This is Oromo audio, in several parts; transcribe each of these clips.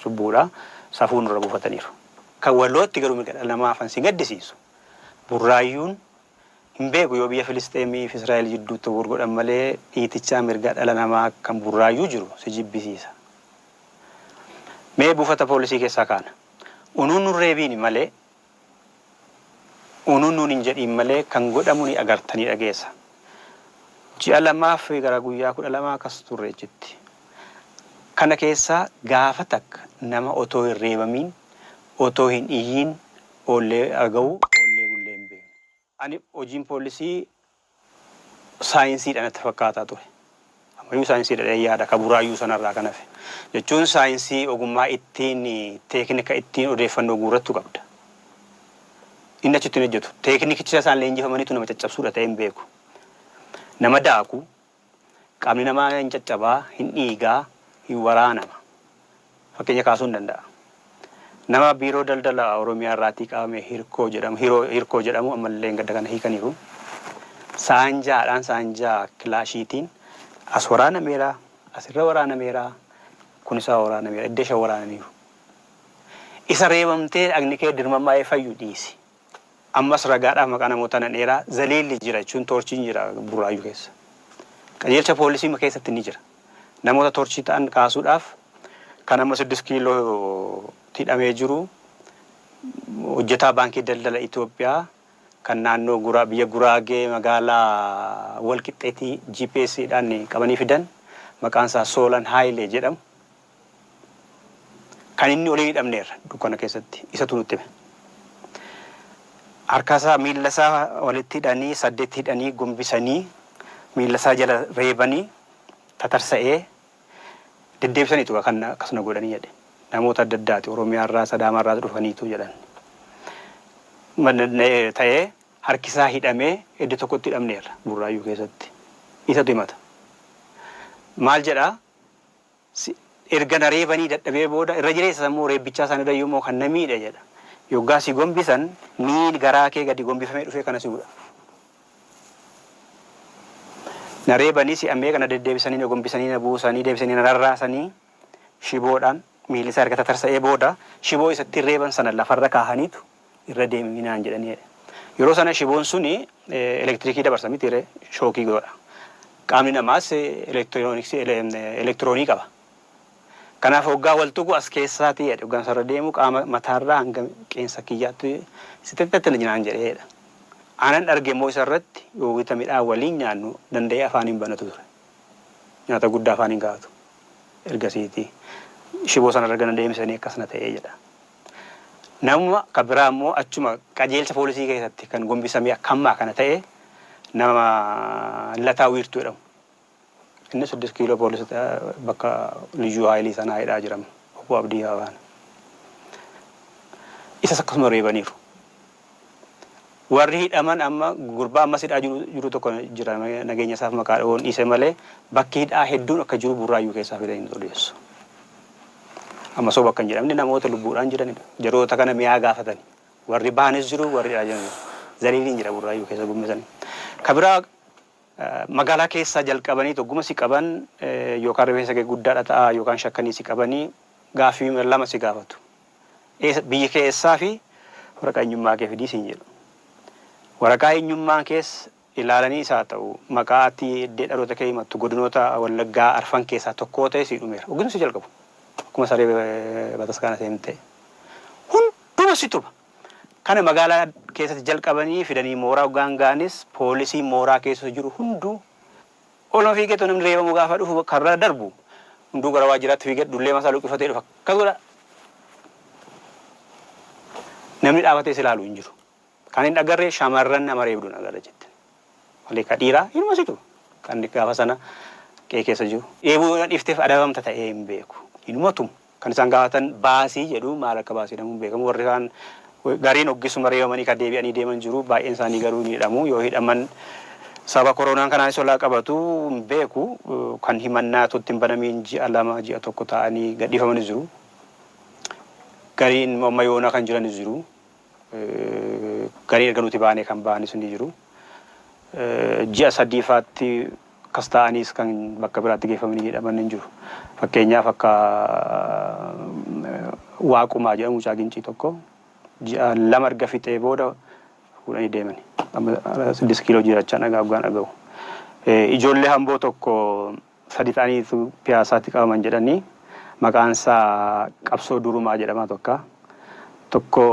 cubbuudha. Safuu nurra buufataniiru. Kan walootti garuu mirga dhala namaa hafan si gaddisiisu. Burraayyuun hin beeku yoo biyya Filisxeemii fi Israa'el jidduutti wal godhan malee dhiitichaa mirga dhala namaa kan Burraayyuu jiru si jibbisiisa. Mee buufata poolisii keessaa kaana. Unuun nun reebiini malee unun nuun hin jedhiin malee kan godhamu ni agarta ni dhageesa ji'a lamaaf gara guyyaa kudha lama akkas turre achitti kana keessaa gaafa takka nama otoo hin reebamiin otoo hin iyyiin oollee argau oollee bullee hin beeknu. Ani hojiin poollisii saayinsiidha natti fakkaataa ture. Ammayyuu saayinsiidha jedheen yaada ka buraayyuu sanarraa kan hafe. Jechuun saayinsii ogummaa ittiin teeknika ittiin odeeffannoo guurrattu qabda. Inni achitti hin hojjetu. Teeknikichi isa isaan leenjifamanitu nama caccabsuudha ta'ee hin beeku. Nama daaku, Qaamni namaa hin caccaba, hin dhiiga, hin waraanama. Fakkeenya kaasuun danda'a. Nama Biiroo Daldala Oromiyaa irraatii qabame Hirkoo jedhamu, Hiroo, Hirkoo jedhamu ammallee engadda kana hiikaniiru. Saanjaadhaan, saanjaa kilaashiitiin as waraanameera, as irra waraanameera, kun isaa waraanameera, edda shan waraananiiru. Isa reebamtee dhagni kee dirmammaa'ee fayyu dhiisi. Ammas ragaadhaaf maqaa namootaa nan eera. Zaliilli jira jechuun toorchiin jira Burraayyuu keessa. Qajeelcha poolisiima keessatti ni jira. Namoota toorchii ta'an kaasuudhaaf kan amma siddist kiilootti hidhamee jiru hojjetaa baankii daldala Itoophiyaa kan naannoo Guraa biyya Guraagee magaalaa Walqixxeetii GPS dhaan qabanii fidan maqaan isaa Soolan Haayilee jedhamu. Kan inni oliin hidhamneerra dukkana keessatti. Isatu nutti hime. Harkasaa, miillasaa walitti hidhanii, saddeetti hidhanii, gombisanii, miillasaa jala reebanii, tatarsa'ee, deddeebisaniitu egaa kan akkas na godhanii jedhe. Namoota adda addaati. Oromiyaarraas, Adaamaarraas dhufaniitu jedhan. Ta'ee harkisaa hidhamee iddoo tokkotti hidhamneerra Burraayyuu keessatti. Isatu himata. Maal jedha? si erga na reebanii dadhabee booda irra jireessa sammuun reebbichaa sana irrayyuu immoo kan na miidhe jedha yoggaa si gombisan miil garaa kee gadi gombifamee dhufee kana si mudha na reebanii si'a meeqa na deddeebisanii na gombisanii na buusanii deebisanii na rarraasanii shiboodhaan miilli isaa erga tatarsa'ee booda shiboo isa ittiin reeban sana lafarra kaahaniitu irra deemi naan jedhanii jedhe. Yeroo sana shiboon suni elektirikii dabarsa mitiiree shookii godha. Qaamni namaas elektiroonii qaba. Kanaaf hoggaa wal tuqu as keessaatii jedhe hoggaan isarra deemu qaama mataarraa hanga qeensa kiyyaatti sitittattilj naan jedhe jedha. Aanan argemmoo isarratti wayita midhaan waliin nyaannu danda'ee afaan hin banatu ture. Nyaata guddaa afaan hin kaa'atu. Ergasiiti shiboo sanarra erga na deebisanii akkas na ta'e jedha. Namuma ka biraa immoo achuma qajeelcha poolisii keessatti kan gombisamee akka ammaa kana ta'e nama Lataa Wiirtuu jedhamu. Inni siddis kiiloo poolis bakka liyyuu haayilii sanaa hidhaa jiram obbo Abdii Hawaana. Isas akkasuma reebaniiru. Warri hidhaman amma gurbaa ammas hidhaa jiru tokko jira nageenya isaaf maqaa dhahuun dhiise malee bakki hidhaa hedduun akka jiru Burraayyuu keessaa fidanii nutti odeessu. Amma soba akka hin jedhamne namoota lubbuudhaan jiranidha. Jaroota kana mi'aa gaafatani. Warri bahanis jiru warri hidhaa jiran jiru. Zaliiliin jira Burraayyuu keessa gummisani. Ka biraa magaalaa keessaa jalqabanii togguma si qaban yookaan rifeensa kee guddaadha ta'a yookaan shakkanii si qabanii gaaffii lama si gaafatu. biyya kee eessaa fi waraqaa eenyummaa kee fidii siin jedhu. Waraqaa eenyummaa kees ilaalaniis haa ta'u maqaa ati iddee dhaloota kee himattu godinoota Wallaggaa arfan keessaa tokkoo ta'ee sii dhumeera. Hoggiduu si jalqabu. Akkuma saree bataskaana seentee. Hunduma si tuba. Kana magaalaa keessatti jalqabanii fidanii mooraa hoggaan ga'anis poolisiin mooraa keessa jiru hunduu Oluma fiigeetuma namni reebamu gaafa dhufu ka bira darbu hunduu gara waajjiraatti fiigee dullee mataa luqqifatee dhufa. Akkas godha. Namni dhaabatee si ilaalu hin jiru. Kan hin agarre shamarran nama reebduun agarra jette. Malee ka dhiiraa inuma situ kan gaafa sana qe'ee keessa jiru. Reebuu yoo na dhiifteef adabamta ta'ee hin beeku. Inuma tumu. Kan isaan gaafatan baasii jedhu. Maal akka baase jedhamu hin beekamu. Warri kaan gariin oggisuma reebamanii kan deebi'anii deeman jiru. Baay'een isaanii garuu ni hidhamu. Yoo hidhaman sababa koroonaan kanaanis olaa qabatu hin beeku. Kan himannaa utuu itti hin banamiin ji'a lama, ji'a tokko taa'anii gadhiifamanis jiru. Gariin immoo amma yoonaa kan jiranis jiru. Garii erga nuti baanee kan bahanis ni jiru. Ji'a sadiifaatti akkas taa'aniis kan bakka biraatti geeffamanii hidhaman ni jiru. Fakkeenyaaf akka Waaqumaa jedhamu mucaa Gincii tokko ji'a lama erga fixee booda fuudhanii deemani. Amma siddist kiiloo jirachaan dhagaa hoggaan dhagahu. Ijoollee Amboo tokko sadi ta'aniitu Piyaasaatti qabaman jedhanii maqaansaa Qabsoo Durumaa jedhamaa tokka. Tokko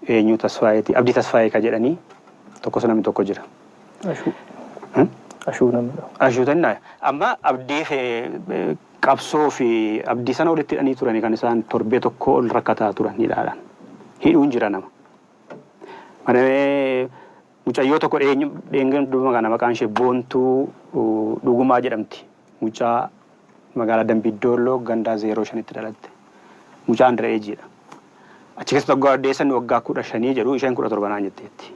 eenyuu Tasfaayeeti Abdii Tasfaayee ka jedhanii tokkos namni tokko jira. Ashuu. Ashuu namni tokko. Ashuu tannaa amma Abdii Qabsoo fi Abdii sana walitti hidhanii turanii kan isaan torbee tokkoo ol rakkataa turan hidhaadhaan. Hidhuun jira nama. Manamee Mucayyoo tokko dhiyeenyu dheengadda dubbifne kana maqaan ishee Boontuu Dhugumaa jedhamti. Mucaa magaalaa Dambii Doolloo gandaa 05tti dhalatte. Mucaa under age dha. Achi keessatti waggaa oddeessan waggaa 15 jedhu isheen 17 naan jetteetti.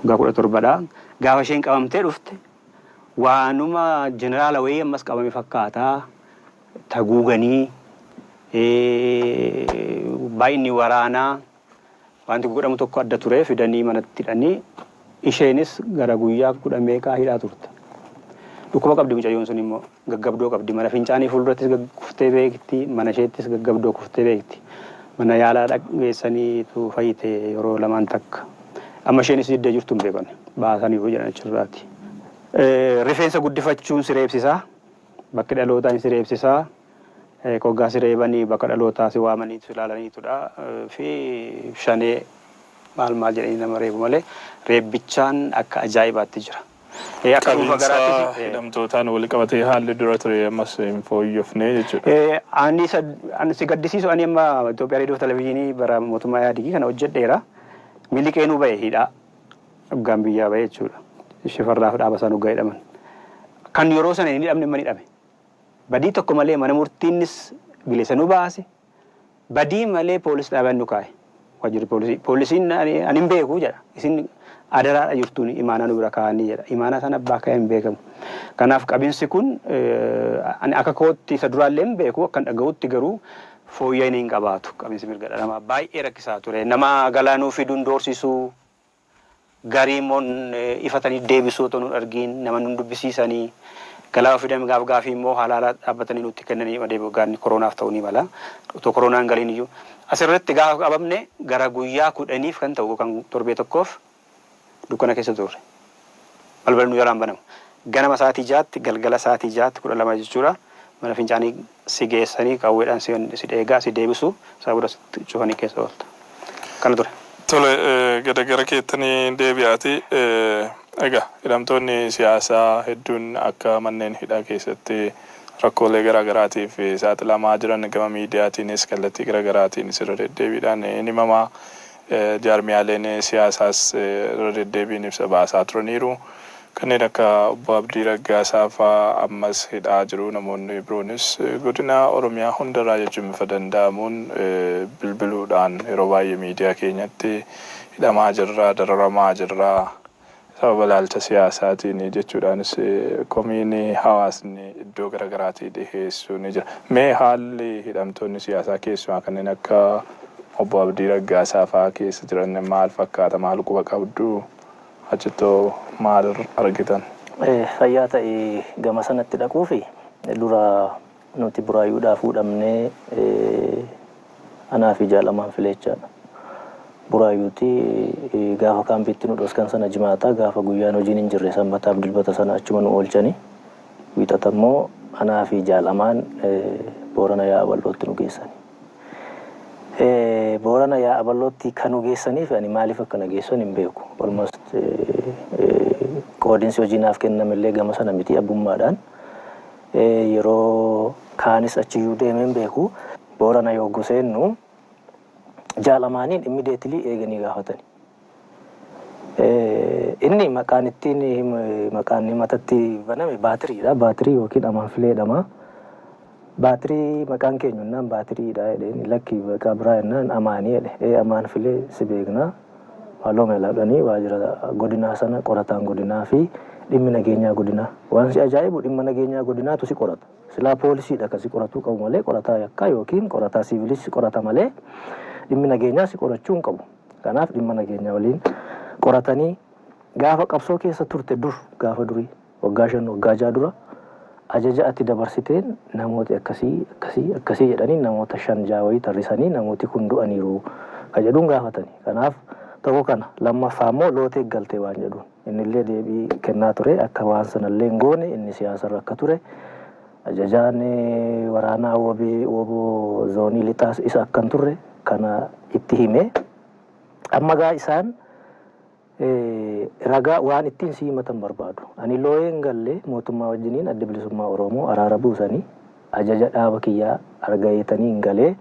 Waggaa 17 dha. Gaafa isheen qabamtee dhufte waanuma jeneraala wayii ammas qabame fakkaata. Taguuganii baay'inni waraanaa Wanti godhamu tokko adda ture fidanii manatti hidhanii isheenis gara guyyaa kudha meeqaa hidhaa turte. Dhukkuba qabdi mucayyoon sun immoo gaggabdoo qabdi mana fincaanii fuuldurattis kuftee beekti mana isheettis gaggabdoo kuftee beekti. Mana yaalaa dhaq geessaniitu fayyite yeroo lamaan takka. Amma isheenis diddee jirtu hin beekani baasaniiru jedhan achirraati. Rifeensa guddifachuun si reebsisaa bakki dhalootaa hin si reebsisaa. Hoggaa si reebani bakka dhalootaa si waamaniitu si laalaniitudha fi shanee maal maal jedhanii nama reebu malee reebbichaan akka ajaa'ibaatti jira. Akka dhuunfa Qabiinsa garaattis. hidhamtootaan walqabatee haalli dura ture ammas hin fooyyofne jechuudha. Ani isa an si gaddisiisu ani amma Itoophiyaa Reediyoof Televizyinii bara mootummaa Ihaadigii kana hojjedheera. Miliqeenuu ba'e hidhaa. Hoggaan biyyaa ba'e jechuudha. Shifarraaf Dhaabasaanuu hoggaa hidhaman. Kan yeroo sana hin hidhamne amma ni hidhame. Badii tokko malee mana murtiinnis bilisa nu baase. Badii malee poolis dhaabaan nu kaa'e. Waajjirri poolisii. Poolisiin ani hin beeku jedha. Isin adaraadha jirtuun imaanaa nu bira kaa'anii jedha. Imaanaa sana abbaa ka'ee hin beekamu. Kanaaf qabinsi kun ani akka kootti isa duraallee hin beeku akkan dhaga'utti garuu fooyya'ina hin qabaatu. Qabinsi mirga dhala namaa baay'ee rakkisaa ture. Nama galaa nuu fiduun doorsisuu. Garii immoo ifatanii deebisuu otoo nun argiin nama nun dubbisiisanii galaa ofii deemanii gaaf gaafii immoo haala haala dhaabbatanii nutti kennanii adeemu gaanni koroonaaf ta'uu ni mala otoo koroonaa hin galiin iyyuu as irratti gaafa qabamne gara guyyaa kudhaniif kan ta'u kan torbee tokkoof dukkana keessa turre balballi nu jalaan banamu ganama sa'aatii jaatti galgala sa'aatii jaatti kudha lama jechuudha mana fincaanii si geessanii qawweedhaan si dheegaa si deebisu sana booda sitti cufanii keessa oolta. Kana ture. Tole gada gara keettani deebi'aati. Egaa hidhamtoonni siyaasaa hedduun akka manneen hidhaa keessatti rakkoolee garaa garaatiif saaxilamaa jiran gama miidiyaatiinis kallattii gara garaatiinis irra deddeebiidhaan hin himamaa. Jaarmiyaaleen siyaasaas irra deddeebiin ibsa baasaa turaniiru. Kanneen akka Obbo Abdii Raggaasaa faa ammas hidhaa jiru. Namoonni biroonis godina Oromiyaa hundarraa jechuun bifa danda'amuun bilbiluudhaan yeroo baay'ee miidiyaa keenyatti hidhamaa jirra, dararamaa jirra, Sababa ilaalcha siyaasaatiin jechuudhaanis komiin hawaasni iddoo gara garaatii dhiheessu ni jira. Mee haalli hidhamtoonni siyaasaa keessumaa kanneen akka Obbo Abdii Raggaasaa fa'aa keessa jiran maal fakkaata? Maal quba qabdu? Achittoo maal argitan? Fayyaa ta'i gama sanatti dhaquuf dura Nuti Buraayyuudhaa fuudhamne anaa fi Jaal Amaan Fileecha Buraayyuuti. Gaafa kaampiitti nu dhoskan sana Jimaata. Gaafa guyyaan hojiin hin jirre Sanbataaf Dilbata sana achuma nu oolchani. Wiixata immoo anaa fi Jaal Amaan Boorana Yaa'a Bal'ootti nu geessani. Boorana Yaa'a Bal'ootti kan nu geessanii fi ani maaliif akka na geessan hin beeku. Almost qoodinsi hojii naaf kenname illee gama sana miti abbummaadhaan. Yeroo kaanis achiyyuu deemee hin beeku. Boorana yogguu seennu Jaal Amaaniin immediately eeganii gaafatani. Inni maqaan ittiin maqaan himata itti baname baatiriidha. Baatirii yookiin amaanfilee jedhama. Baatirii maqaan keenyu jennaan baatiriidha jedheen. Lakki maqaa biraa jennaan amaanii jedhe. Ee amaanfilee si beekna. Haaloo meelaadhani waajira godinaa sana qorataan godinaa fi dhimmi nageenyaa godinaa. Waan si ajaa'ibu dhimma nageenyaa godinaatu si qorata. Silaa poolisiidha kan si qoratuu qabu malee qorataa yakkaa ykn qorataa siivilis si qorata malee dhimmi nageenyaa si qorachuu hin qabu. Kanaaf dhimma nageenyaa waliin qoratanii gaafa qabsoo keessa turte dur gaafa durii. Waggaa shan waggaa ja'a dura ajaja ati dabarsiteen namooti akkasii akkasii akkasii jedhanii namoota shan ja'a wayii tarrisanii namooti kun du'aniiru ka jedhuun gaafatani. Kanaaf tokko kana lammaffaa immoo loota eeggalte waan jedhuun. Innillee deebii kennaa ture akka waan sanallee hin goone inni siyaasarra akka ture ajajaan waraanaa wbo zoonii lixaas isa akka hin turre kana itti hime. Amma egaa isaan. Ragaa, waan ittiin si himatan barbaadu. Ani looyee hin galle, mootummaa wajjiniin Addi Bilisummaa Oromoo araara buusanii ajaja dhaaba kiyyaa argaeetaniin galee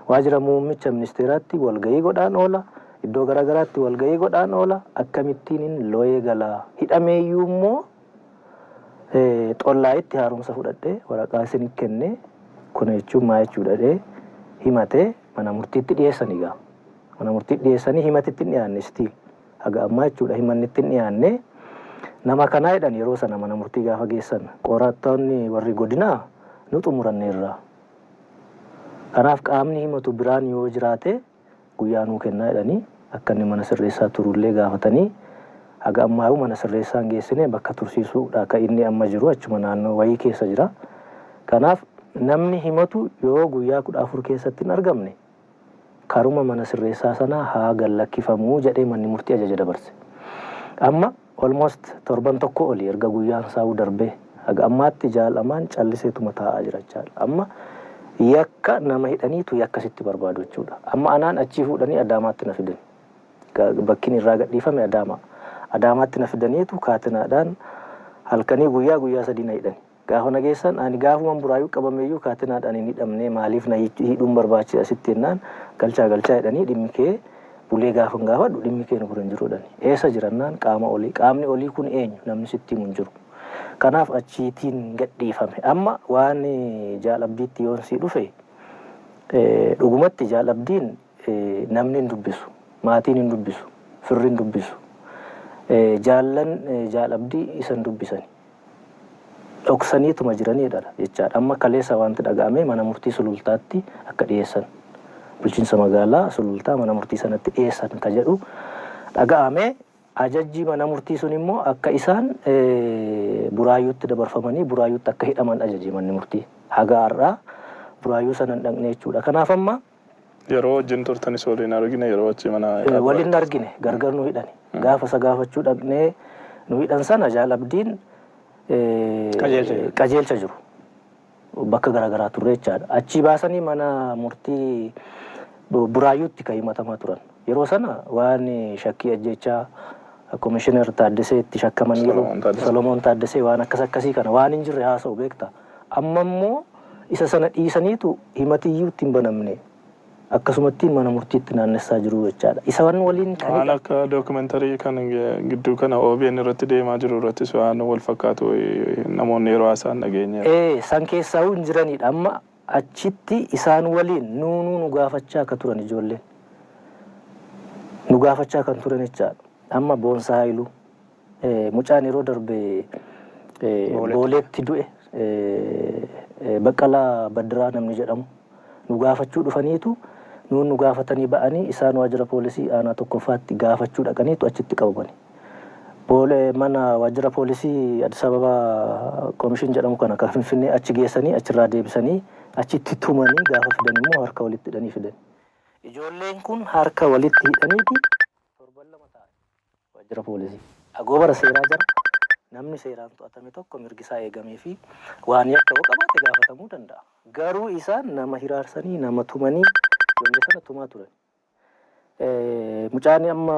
waajira muummicha ministeeraatti walgahii godhaan oola, iddoo gara garaatti walgahii godhaan oola, akkamittiinin looyee gala? Hidhameeyyuu immoo Xollaayitti haaromsa fudhadhee waraqaa isinii kennee kuna jechuun maal jechuudha jedhee himatee mana murtiitti dhiyeessan egaa. Mana murtiitti dhiyeessanii himati itti hin dhiyaanne still haga ammaa jechuudha himanni itti hin dhiyaanne nama kanaa jedhan yeroo sana mana murtii gaafa geessan qorattoonni warri godinaa nu xumuranneerra kanaaf qaamni himatu biraan yoo jiraate guyyaa nuu kennaa jedhanii akka inni mana sirreessaa turullee gaafatanii haga ammaayuu mana sirreessaa hin geessine bakka tursiisuudha ka inni amma jiru achuma naannoo wayii keessa jira kanaaf namni himatu yoo guyyaa kudha afur keessatti hin argamne karuma mana sirreessaa sanaa haa gad lakkifamuu jedhee manni murtii ajaja dabarse. Amma almost torban tokkoo oli erga guyyaan saau darbee haga ammaatti jaal Amaan calliseetuma taa'aa jira jechaadha. Amma yakka nama hidhaniitu yakka sitti barbaadu jechuudha. Amma anaan achii fuudhanii Adaamaatti na fidan. Ga bakkin irraa gad dhiifame Adaamaa. Adaamaatti na fidaniitu kaatenaadhaan halkanii guyyaa guyyaa sadii na hidhani. Gaafa na geessan ani gaafuman Buraayyuu qabameyyuu kaatinaadhaan hin hidhamne maaliif na hidhuun barbaachisa sitti jennaan galchaa galchaa jedhanii dhimmi kee bulee gaafan gaafadhu dhimmi kee nu bira hin jiru jedhani. Eessa jira jennaan qaama olii. Qaamni olii kun eenyu? Namni sitti himu hin jiru. Kanaaf achiitiin gadhiifame. Amma waan Jaal Abdiitti yoon sii dhufe dhugumatti Jaal Abdiin namni hin dubbisu. Maatiin hin dubbisu. Firri hin dubbisu. Jaallan Jaal Abdii isa hin dubbisan. dhoksaniituma jiranii jedhara jechaadha. Amma kaleessa waanti dhaga'ame mana murtii Sulultaatti akka dhiyeessan, bulchiinsa magaalaa Sulultaa mana murtii sanatti dhiyeessan ka jedhu dhaga'ame. Ajajji mana murtii sun immoo akka isaan Buraayyuutti dabarfamanii Buraayyuutti akka hidhaman ajaje manni murtii. Haga har'aa Buraayyuu sana hin dhaqne jechuudha. Kanaaf amma. Yeroo wajjin turtanis wal hin argine, yeroo achi mana Ee, Abbaay wal hin turtan. argine gargar nu hidhani gaafa isa gaafachuu dhaqnee nu hidhan sana jaal abdiin ee, Qajeelcha jiru. qajeelcha jiru bakka garaagaraa turre jechaadha achii baasanii mana murtii bu- buraayyuutti kan himatamaa turan yeroo sana waan shakkii ajjechaa komishinar taaddesee itti shakkamaniiru Solomoon Taaddesee. solomoon taaddesee waan akkas akkasii kana waan hin jirre haasa'u beekta Amma immoo isa sana dhiisaniitu himati iyyuu itti hin banamne akkasumatti mana murtiitti naannessaa jiru jechaadha. Isaan waliin kan Waan hidhame. akka documentary kan gidduu kana obn irratti deemaa jiru irrattis waan wal fakkaatu namoonni yeroo haasa'an dhageenyeera. Ee, san keessaahuu hin jiraniidha. Amma achitti isaan waliin nuu nuu nu gaafachaa akka turan ijoolleen. Nu gaafachaa kan turan jechaadha. Amma Boonsaa Haayiluu. Mucaan yeroo darbe Booleetti du'e Baqqalaa Baddiraa namni jedhamu nu gaafachuu dhufaniitu nuun nu gaafatanii ba'anii isaan waajjira poolisii aanaa tokkoffaatti gaafachuu dhaqaniitu achitti qabamani. Boole mana waajjira poolisii Addis Ababa Komishin jedhamu kana kan Finfinnee achi geessanii achirraa deebisanii achitti tumanii gaafa fidan immoo harka walitti hidhanii fidan. Ijoolleen kun harka walitti hidhaniiti torban lama taa'an. Waajjira Poolisii. Agoobara seeraa jala namni seeraan to'atame tokko mirgisaa eegameefii waan yakka yoo qabaate gaafatamuu danda'a. Garuu isaan nama hiraarsanii, nama tumanii ijoollee sana tumaa turani. Mucaan amma.